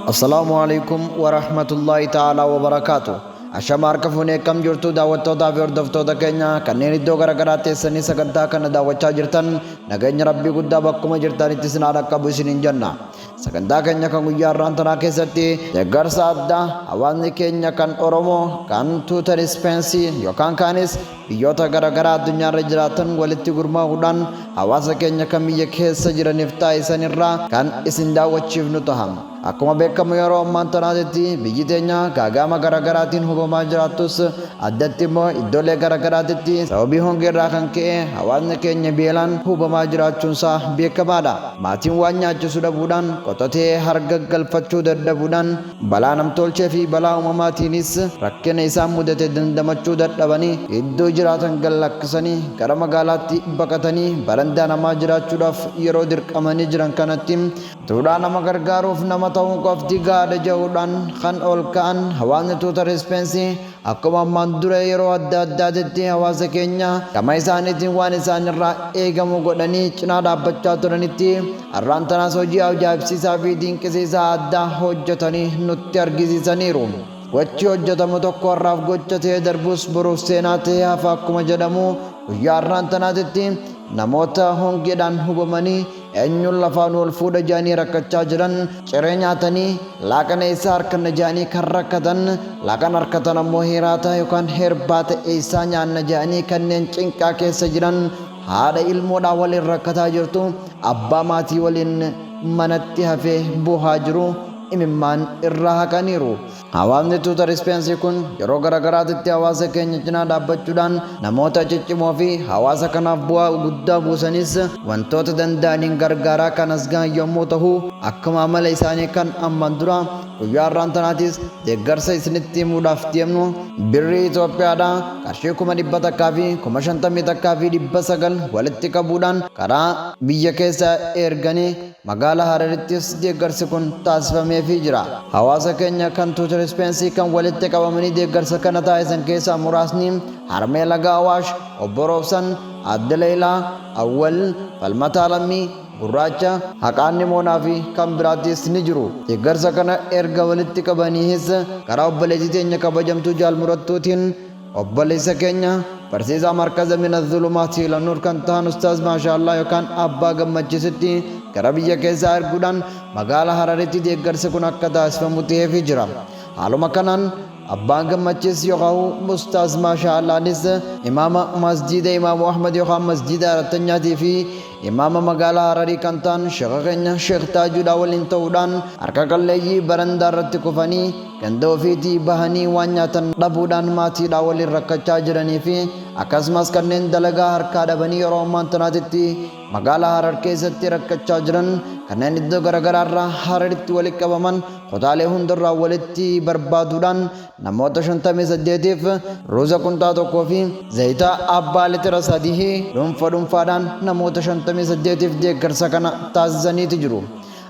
Assalaamu alaikum wa rahmatullahi ta'ala wa barakaatu. Ashama harka fuunee kam jirtu daawwattootaa fi hordoftoota keenya kanneen iddoo garaagaraa teessanii sagantaa kana daawwachaa jirtan nageenya rabbii guddaa bakkuma jirtanitti isin haa dhaqqabu isiniin jenna. Sagantaa keenya kan guyyaa har'aan tanaa keessatti deeggarsa addaa hawaasni keenya kan Oromoo kan Tuutar Ispeensii yookaan kaanis biyyoota garaagaraa addunyaarra jiraatan walitti gurmaa'uudhaan hawaasa keenya kan biyya keessa jiraniif taasisan irraa kan isin daawwachiifnu taha. Akkuma beekamu yeroo ammaan tanaatitti biyyi teenya gaagaama garaagaraatiin hubamaa jiraattus addatti immoo iddoolee garaagaraatitti sababii hongeerraa kan ka'e hawaasni keenya beelaan hubamaa jiraachuunsaa beekamaadha. Maatiin waan nyaachisu dhabuudhaan, qotatee harga galfachuu dadhabuudhaan, balaa namtoolchee fi balaa uumamaatiinis rakkina isaan mudate dandamachuu dadhabanii iddoo jiraatan gad lakkisanii gara magaalaatti baqatanii barandaa namaa jiraachuudhaaf yeroo dirqamanii jiran kanatti duudhaa nama gargaaruuf nama ta'uun qofti gahaadha ja'uudhaan kan ol ka'an hawaasni Tuutar Ispeensi Akkuma ammaan dura yeroo adda addaatitti hawaasa keenya gama isaaniitiin waan isaan irraa eegamu godhanii cinaa dhaabbachaa turanitti, har'aan tanas hojii ajaa'ibsiisaa fi dinqisiisaa addaa hojjetanii nutti argisiisaniiru. Gochi hojjetamu tokko har'aaf gocha ta'ee darbus boruuf seenaa ta'ee hafa akkuma jedhamu, guyyaa har'aan tanaatitti namoota hongeedhaan hubamanii, Eenyuun lafaa nu ol fuudha ja'anii rakkachaa jiran, ciree nyaatanii, laaqana eessaa arkanna ja'anii kan rakkatan, laaqana arkatan ammoo hiraata yookaan hirbaata eessaa nyaanna ja'anii kanneen cinqaa keessa jiran, haadha ilmoodhaa waliin rakkataa jirtu, abbaa maatii waliin manatti hafee boohaa jiru imimmaan irraa haqaniiru. Hawaasni Tuutar Ispeensi kun yeroo garagaraatitti hawaasa keenya cinaa dhaabbachuudhaan namoota ciccimoo fi hawaasa kanaaf bu'aa guddaa buusanis wantoota danda'aniin gargaaraa kan as gahan yommuu tahu akkuma amala isaanii kan amman duraa guyyaa har'aan tanaatis deeggarsa isinitti himuudhaaf deemnu birrii Itoophiyaadhaa qarshii kuma dhibba takkaa fi kuma shantamii takkaa fi dhibba sagal walitti qabuudhaan karaa biyya keessaa erganii Magaala Hararittis deeggarsi kun taasifameefii jira. Hawaasa keenya kan Tuuter Speensii kan walitti qabamanii deeggarsa kana taasisan keessaa muraasni Harmee Laga Awaash, Obbo Roobsan, Aadde Leeylaa, Awwal, Falmataa Lammii, Gurraacha, Haqaan Nimoonaa fi kan biraattis ni jiru. Deeggarsa kana erga walitti qabaniihis karaa obboleettii teenya kabajamtuu Jaal Murattuutiin Obboleessa keenya barsiisaa markaza min azzulumaatii ila nuur kan tahan ustaaz maashaallaah yookaan abbaa gammachiisitti gara biyya keessaa erguudhaan magaala hararitti deeggarsi kun akka taasifamu taheefii jira haaluma kanaan abbaan gammachiis yookaa'u ustaaz maashaallaanis imaama masjiida imaamu ahmad yookaan masjiida arattanyaatii fi imaama magaala hararii kan tahan sheekha keenya sheekh taajuudhaa waliin ta'uudhaan harka qalleeyyii barandaa irratti kufanii ganda ofiitii bahanii waan nyaatan dhabuudhaan maatiidhaa waliin rakkachaa jiranii fi akkasumas kanneen dalagaa harkaa dhabanii yeroo ammaan tanaatitti magaalaa Harar keessatti rakkachaa jiran kanneen iddoo garagaraarraa Hararitti walitti qabaman kutaalee hundarraa walitti barbaaduudhaan namoota 58f ruuza qunxaa tokkoo fi zayita abbaa litira sadihii dhuunfa dhuunfaadhaan namoota 58f deeggarsa kana taasisaniiti jiru.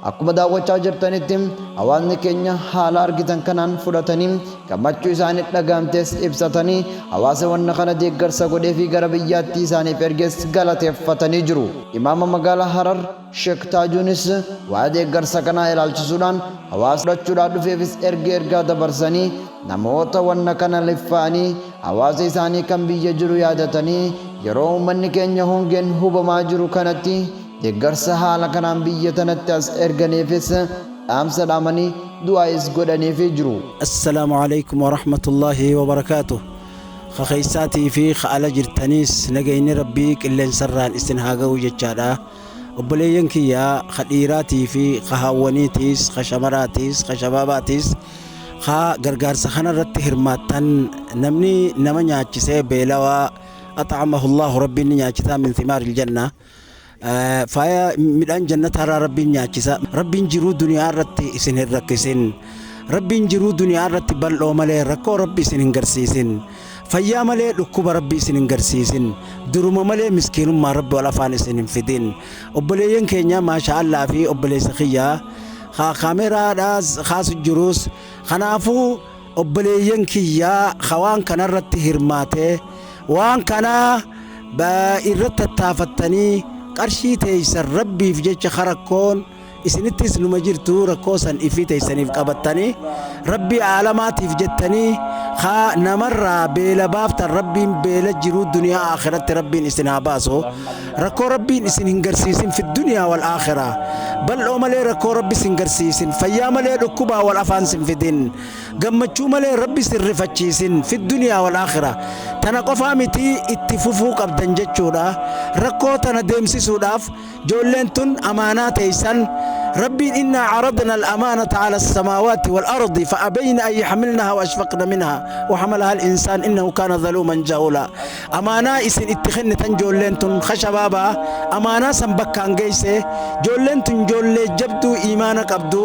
Akkuma daawwachaa jirtanitti hawaasni keenya haala argitan kanaan fudhatanii gammachuu isaanii dhagahamtes ibsatanii hawaasa wanna kana deeggarsa godheefi gara biyyaattii isaaniif erges galateeffatanii jiru. Imaama Magaalaa Harar Sheek Taajuunis waa'ee deeggarsa kanaa ilaalchisuudhaan hawaasa fudhachuudhaa dhufeefis erga ergaa dabarsanii namoota wanna kana liffaa'anii hawaasa isaanii kan biyya jiru yaadatanii yeroo uummanni keenya hongeen hubamaa jiru kanatti Deeggarsa haala kanaan biyya tanatti as erganiifis dhaamsa dhaamanii, du'aa'is godhaniifii jiru. Assalaamu Aleeykum Warahmatullaahi Wabarakaatuh Ka keeysaatii fi ka ala jirtaniis nageyni Rabbii qilleensarraan isin haa gahu jechaadha. Obboleeyyan kiyya ka dhiiraatii fi ka haawwaniitiis, ka shamaraatiis, ka shabaabaatiis ka gargaarsa kanarratti hirmaattan namni nama nyaachisee beelawaa ax'amahullaahu Rabbiin ni nyaachisaa min thimaaril jannah. Faaya midhaan jannataarraa rabbiin nyaachisa. Rabbiin jiruu duniyaa irratti isin hin rakkisin. Rabbiin jiruu duniyaa irratti bal'oo malee rakkoo rabbi isin hin garsiisin. Fayyaa malee dhukkuba rabbi isin hin garsiisin. Duruma malee miskiinummaa rabbi wal afaan isin hin fidin. Obboleeyyan keenya maasha Allah fi obboleessa kiyyaa kaameeraadhaas kaasu jirus kanaafuu Obboleeyyan kiyya ka waan kana irratti hirmaate, waan kana irratti tattaafattanii qarshii teessan Rabbiif jecha ka rakkoon isinittis numa jirtu rakkoo san ifii teessaniif qabattanii Rabbii aalamaatiif jettanii ka namarraa beela baaftan Rabbiin beela jiruu duniyaa aakhiratti Rabbiin isin haa baasu. Rakkoo rabbiin isin hin garsiisin fi duniyaa wal aakhiraa. Bal'oo malee rakkoo rabbi sin garsiisin. Fayyaa malee dhukkubaa wal afaan sin fidin. Gammachuu malee rabbi sin rifachiisin fi duniyaa wal aakhiraa. Tana qofaa mitii itti fufuu qabdan jechuudha. Rakkoo tana deemsisuudhaaf joolleen tun amaanaa teeysan rabbiin innaa caradna al-amaanata cala as-samaawaati wal ardi fa abayna an yaxmilnaha wa ashfaqna minha wa xamalaha al-insaan innahu kaana zaluuman jahulaa. Amaanaa isin itti kennitan joolleen tun ka shabaabaa amaanaa san bakkaan geeyse joolleen tun joollee jabduu iimaana qabdu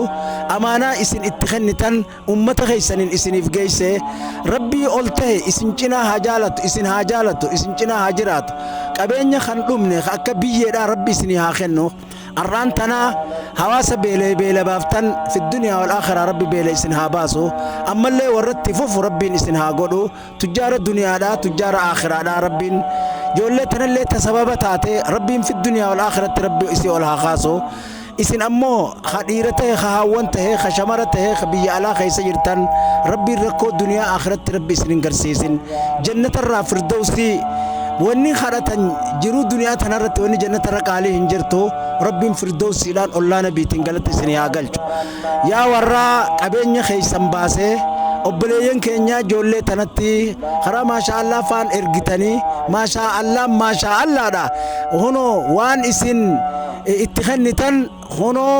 amaanaa isin itti kennitan ummata keeysaniin isiniif geeyse Rabbii ol tahe isin cinaa haa jaalatu isin haa jaalatu isin cinaa haa jiraatu qabeenya kan dhumne ka akka biyyeedhaa Rabbi isinii haa kennu ar'aan tana hawaasa beelaye beela baaftan fi duniyaa wal aakhiraa Rabbi beela isin haa baasu ammallee warra itti fufu Rabbiin isin haa godhu Tujjaara duniyaadhaa tujjaara aakhiraadhaa rabbiin joollee tanallee ta sababa taate rabbiin fi duniyaa wal aakhiratti rabbi isii ol haa kaasu isin ammoo ka dhiira tahe ka haawwan tahe ka shamara tahe ka biyya alaa keessa jirtan rabbiin rakkoo duniyaa aakhiratti rabbi isin hin garsiisin jannatarraa firdowsii wanni kadhatan jiruu duniyaa tanarratti wanni jannatarra qaalii hin jirtu rabbiin firdowsiidhaan ollaa nabiitiin galatti isin haa galchu Yaa warraa qabeenya keessan baasee obboleeyyan keenya ijoollee tanatti karaa maashaa allaa faan ergitanii maashaa allaan maashaa allaadha kunoo waan isin itti kennitan kunoo